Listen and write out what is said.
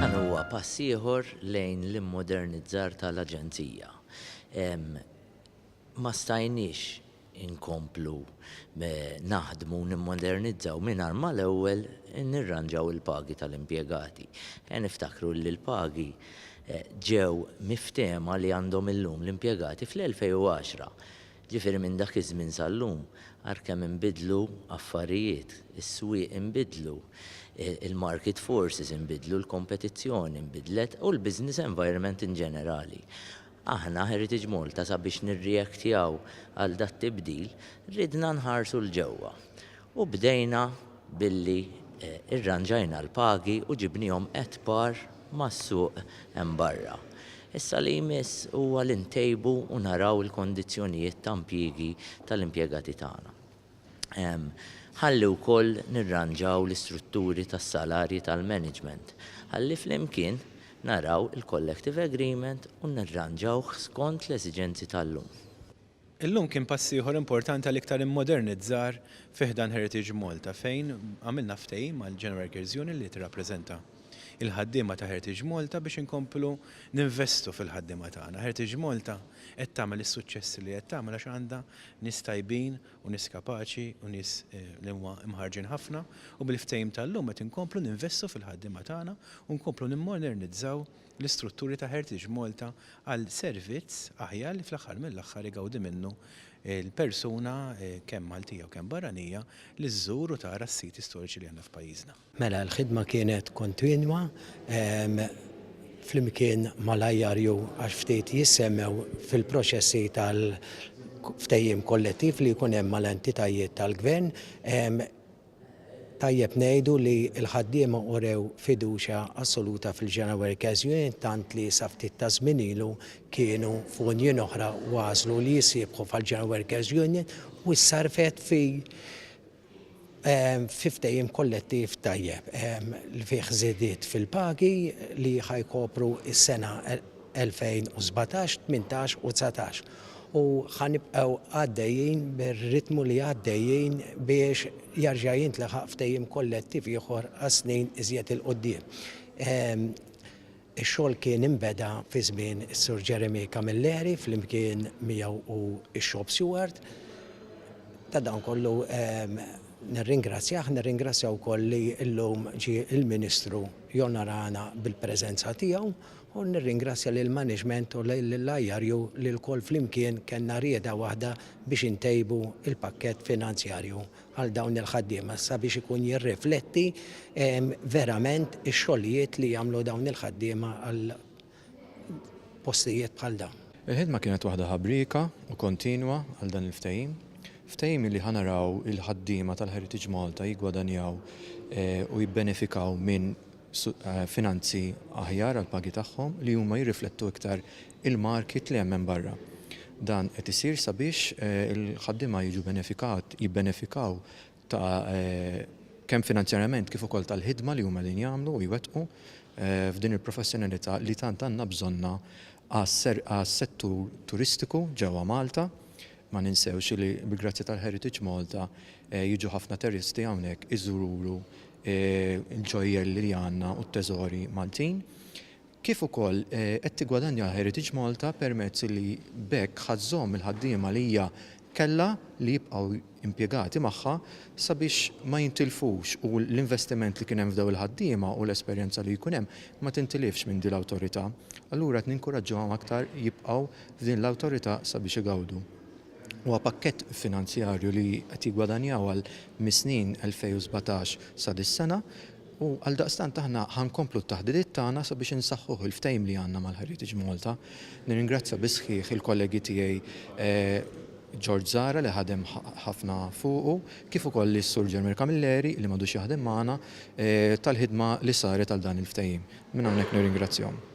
Dan huwa pass ieħor lejn l-immodernizzar tal-Aġenzija. Ma stajniex inkomplu naħdmu u nimmodernizzaw mingħajr ma l-ewwel nirranġaw il-pagi tal-impjegati. Ejja niftakru li l-pagi ġew miftehma li għandhom illum l-impjegati fl-2010. Jiġifieri minn dak iż-żmien sal-lum, ara kemm inbidlu affarijiet, is-swieq inbidlu, il-market forces inbidlu, l-kompetizzjoni nbidlet u l-business environment in ġenerali. Aħna, Heritage Malta, sabiex nirreactjaw għal dat-tibdil, ridna nħarsu 'l ġewwa U bdejna billi rranġajna l-pagi u ġibniehom at par mas-suq hemm barra. Issa li jmiss huwa li ntejbu u naraw il-kondizzjonijiet ta' impjiegi tal-impjegati tagħna. Ħalli wkoll nirranġaw l-istrutturi tas-salarji tal-management ħalli flimkien naraw il-collective agreement u nirranġawh skont l-esiġenzi tal-lum. Illum kien pass ieħor importanti għal iktar immodernizzar fi ħdan Heritage Malta fejn għamilna ftehim mal-General Workers Union li tirrappreżenta l-ħaddiema ta' Heritage Malta biex inkomplu ninvestu fil-ħaddiema tagħna. Heritage Malta qed tagħmel is-suċċessi li qed tagħmel għax għandha nies tajbin u nies kapaċi u nies li huma mħarrġin ħafna u bil-ftehim tal-lum qed inkomplu ninvestu fil-ħaddiema tagħna u nkomplu nimmodernizzaw l-istrutturi ta' Heritage Malta għal servizz aħjar li fl-aħħar mill-aħħar igawdi minnu l-persuna kemm Maltija u kemm barranija li żżur u tara s-siti storiċi li għandna f'pajjiżna. Mela l-ħidma kienet kontinwa flimkien mal-IRU għax ftit jissemmew fil-proċessi tal-ftehim kollettiv li jkun hemm mal-entitajiet tal-gvern, Tajjeb ngħidu li l-ħaddiema urew fiduċja assoluta fil-General Workers Union tant li sa ftit ta' żmien ilu kienu f'union oħra u għażlu li jissieħbu fal-General Workers Union u ssarrfet fi fi ftehim kollettiv tajjeb li fih żidiet fil-pagi li ħa jkopru s-sena 2017, 18 u 19 u ħa nibqgħu għaddejjin bir-ritmu li għaddejjin biex jarġa' jintlaħaq ftehim kollettiv ieħor għas-snin iżjed 'il quddiem. Ehm, ix-xogħol kien inbeda fi żmien is-Sur Jeremy Camilleri flimkien miegħu u x-Shop Steward. Ta' dan kollu ehm, nirringrazzjah, nirringrazzja wkoll li llum ġie il-Ministru jonorana bil-preżenza tiegħu u nirringrazzja lill-management u lill-IRU li lkoll flimkien kellna rieda waħda biex intejbu l-pakkett finanzjarju għal dawn il-ħaddiema sabiex ikun jirrifletti verament ix-xogħlijiet li jagħmlu dawn il-ħaddiema għal postijiet bħal dawn. Il-ħidma kienet waħda ħabrieka u kontinwa għal dan il-ftehim. Ftehim li ħa naraw il-ħaddiema tal-Heritage Malta jiggwadanjaw u jibbenefikaw minn finanzi aħjar għall-pagi tagħhom li huma jirriflettu iktar il-market li hemm hemm barra. Dan qed isir sabiex il-ħaddiema jiġu benefikat, jibbenefikaw ta' kemm finanzjarjament kif ukoll tal-ħidma li huma qegħdin jagħmlu u jwettqu f'din il-professjonalità li tant għandna bżonnha għas-settur turistiku ġewwa Malta. Ma ninsewx li bil-grazzja tal-Heritage Malta jiġu ħafna turisti hawnhekk iżuru il-ġojjelli li għandna u t-teżori Maltin, kif ukoll qed tiggwadanja Heritage Malta permezz li b'hekk ħa żżomm il-ħaddiema li hija kellha li jibqgħu impjegati magħha sabiex ma jintilfux u l-investiment li kien hemm f'dawn il-ħaddiema u l-esperjenza li jkun hemm ma tintilifx minn din l-awtorità. Allura qed ninkuraġġuhom aktar jibqgħu f'din l-awtorità sabiex igawdu. Huwa pakkett finanzjarju li qed jiggwadanjaw għal mis-snin 2017 sa dis-sena u għaldaqstant aħna ħa nkomplu t-taħditiet tagħna sabiex insaħħuh il-ftehim li għandna mal-Heritage Malta. Nirringrazzja bis-sħiħ il-kollegi tiegħi George Zahra li ħadem ħafna fuqu kif ukoll lis-Sur Jeremy Camilleri li m'għadux jaħdem magħna tal-ħidma li saret għal dan il-ftehim. Minn hawnhekk nirringrazzjahom.